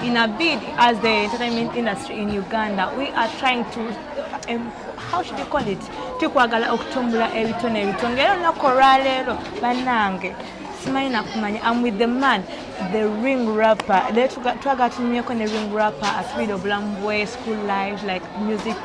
in a bid as the entertainment industry in Uganda, we are trying to, um, how should you call it, tukwagala okutumbula ebitone ebitonge era olunaku olwaleero bannange simanyi nakumanya am with the man the ring rapper le twagala tunyumyeko ne ring rapper atubiire obulamu bwe school life like music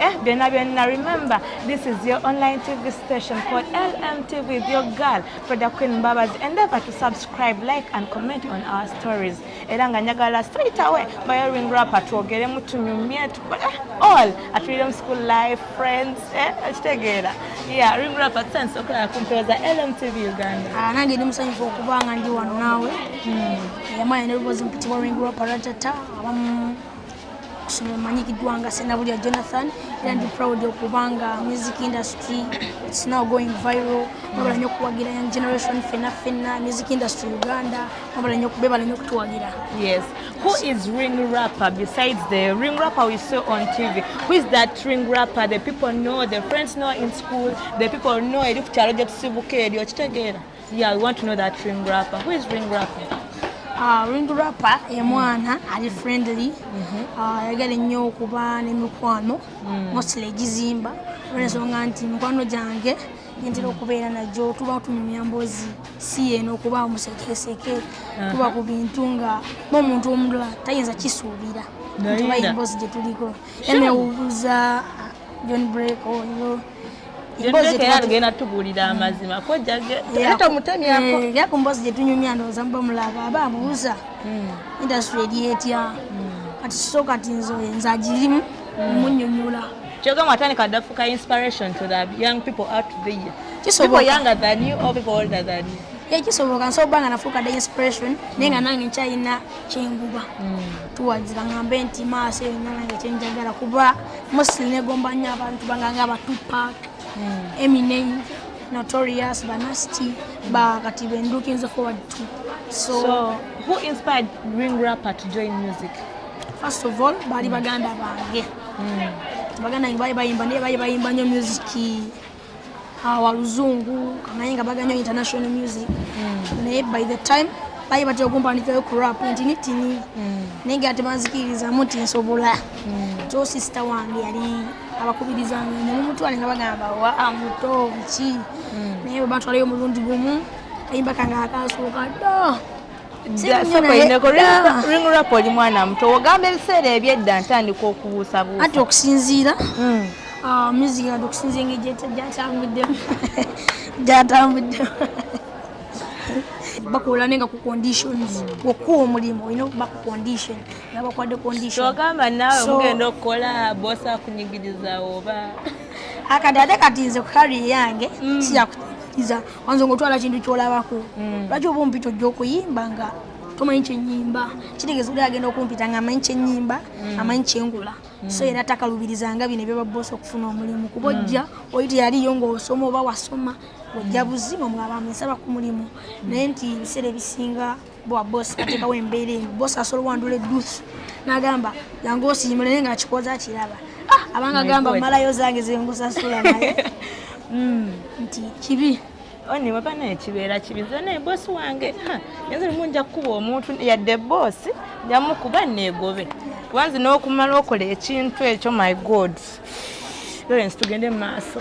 eh byonna byonna remember this is your online tv station called lmtv with your girl for the Queen Mbabazi. Endeavor to subscribe, like and comment on our stories. Era nga njagala straight away bayo ring rap atwogere mutunyumye tukole eh, all at Freedom School Life friends eh akitegeera. Yeah, ring rap at sense okulaba ku mpero za LMTV Uganda. Ah, nange ndi musanyufu okuba nga ndi wano naawe. Hmm. Yamanya ne lubozi mpitibwa ring rap aratata abamu Kusoma manyikiddwa nga Senabulya Jonathan era ndi proud okubanga music industry it's now going viral mwebala nyo okuwagira young generation fena fena music industry Uganda mwebala nyo bebala nyo okutuwagira yes who is ring rapper besides the ring rapper we saw on TV who is that ring rapper the people know the friends know in school the people know eri ku kyalo gye tusibuka eryo okitegeera Yeah, we want to know that ring rapper. Who is ring rapper? Uh, ring rapper ye mwana ali friendly mm-hmm. uh, ayagala ennyo okuba n'emikwano mm. mostly egizimba olwensonga nti mikwano gyange nyentera okubeera najo tuba tunyumya mbozi si yeno okuba musekeseke uh-huh. tuba ku bintu nga n'omuntu omulala tayinza kisuubira nti bayimbozi gye tuliko emewubuza john break oyo oh, emboozi era tugenda tubuulira amazima kojjage era tomutemyako eh, era ku mboozi gye tunyumya ndowooza muba mulaba aba abuuza hmm. industry eri etya hmm. kati so kati nze nze agirimu hmm. omunyonyola kyogamu atandika dafuka inspiration to the young people out there people younger than you or people older than you ye kisoboka nsobola okuba nga nafuuka the inspiration naye nga nange nkyalina kyenguba tuwagira ngambe nti maaso eyo nange kyenjagala kuba mostly negomba nnyo abantu banganga ba tupac hmm. eminem notorious banasty ba kati ben looking forward to so, so who inspired ring rapper to join music first of all baali hmm. baganda bange hmm. baganda nge baali bayimba naye baali bayimba nnyo musiki awaluzungu ah, kamanyi nga baganyo international music hmm. naye by the time baye batera okumpandikirayo ku rap nti nitini hmm. naye nga tebanzikirizamu nti nsobola hmm. so sisita wange yali abakubirizanga nemumutwale nga bagamba wa ah, muto biki naye bwebatwalayo omulundi gumu kayimba kange akasooka do ringrapu oli mwana muto ogamba ebiseera ebyedda ntandika okubuusabuusa ati okusinziira hmm. ah, music ati okusinziira engeri gyatambuddemu gyatambuddemu bakola nenga ku conditions okuwa omulimu olina okuba ku condition nabakwade conditionogamba nawe mugenda okukola bosi akunyigiriza oba akadade katinze kukari yange mm. siyakunyigiriza Wanzo ngotwala kintu kyolabako. Mm. Lwaki oba ompita ojja okuyimba nga tomanyi kyenyimba kitegeeza oli agenda okumpita nga amanyi kyenyimba mm. amanyi kyengula mm. so era takalubirizanga bino ebyebaboosa okufuna omulimu kuba mm. ojja oli teyaliyo ngaosoma oba wasoma ojja buzima mwabamesaba ku mulimu naye nti ebiseera ebisinga bwa boss atekawo embeera eyo boss asobola owandula eduth nagamba yange osiima naye nga akikoza kiraba ah, abanga gamba malayo zange zengusasula naye hmm, nti kibi oni baba naye kibeera kibi nze naye bosi wange nze limu nja kukuba omuntu yadde bosi njamukuba neegobe kuba nze n'okumala okola ekintu ekyo my god lawrence tugende mu maaso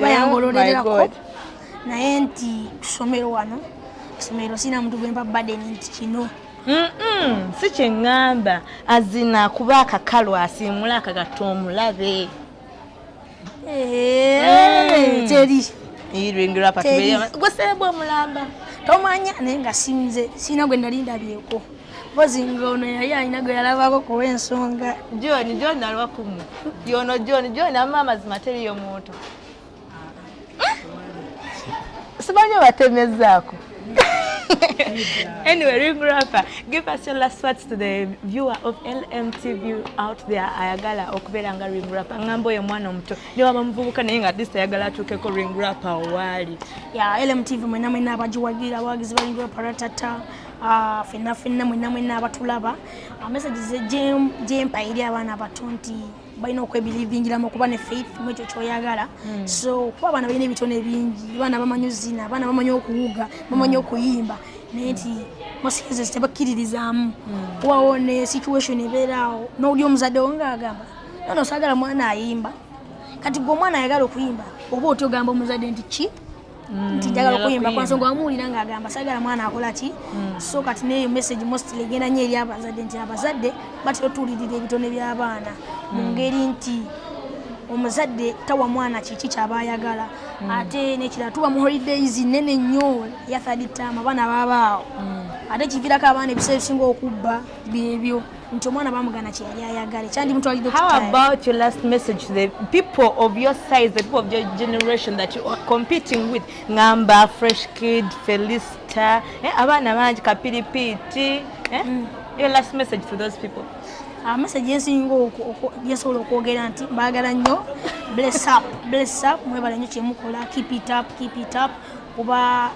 bayangololererako oh naye nti kusomero wano esomero sina muntu gwemba baden nti kino si kyeŋŋamba azina kuba akakalu asiimula akagatta omulabe eh, teri gweseebwa omulamba tomanya naye nga sinze sirina gwe nali ndabyeko mpozi nga ono yali alina gwe yalabako kuwa ensonga john john alwa kumu yono john john ama amazima teriyo muntu simanyi obatemezaako anyway, Ring Rapper, give us your last words to the viewer of LMTV out there. Ayagala okubeera nga Ring Rapper ngamba oyo mwana omuto ne waba muvubuka naye nga this ayagala atuukeko Ring Rapper owaali. Yeah, LMTV mwena mwena abagiwagira abawagizi ba Ring Rapper ratata Ah, fenna fenna mwena mwena abatulaba ah, messages gyempa eri abaana abato nti balina okwebirivingiramu okuba ne faith mu ekyo kyoyagala hmm. so kuba abaana balina ebitone bingi abaana bamanyi ozina abaana bamanyi okuwuga bamanyi hmm. okuyimba naye nti mosizes tebakkiririzaamu hmm. wawo ne situation ebeeraawo nowuli omuzadde wo ngaagamba nono sagala mwana ayimba kati gwe omwana ayagala okuyimba oba otya ogamba omuzadde nti ki Mm, nti njagala okuyimba kwanso nga wamuwulira nga agamba sagala mwana akola ki mm. so kati neyo message mostly egenda nyo eri abazadde nti abazadde batera otuwulirira ebitone by'abaana mu mm. ngeri nti omuzadde tawa mwana kiki kyaba ayagala mm. ate nekira tuba mu holidays nene nnyo yathaditama abaana babaawo mm. ate kivirako abaana ebiseera ebisinga okubba byebyo nti omwana bamugana kyeyali ayagala ekyandimutwalidde how about your last message the people of your size the people of your generation that you are competing with ngamba fresh kid felista eh, abaana bangi kapiripiiti eh? mm. your last message to those people amasagi ah, ensinga gyesobola okwogera nti baagala nnyo bless up bless up mwebala nnyo kyemukola keep it up keep it up kuba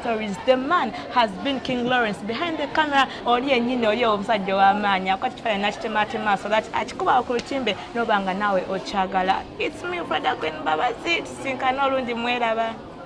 stories the man has been king lawrence behind the camera oli enyini oli omusajja owamaanyi akwata ekifaananyi nakitemaatema so that akikubawo ku lutimbe noba nga naawe okyagala its me freda queen babazi tusinkana olundi mweraba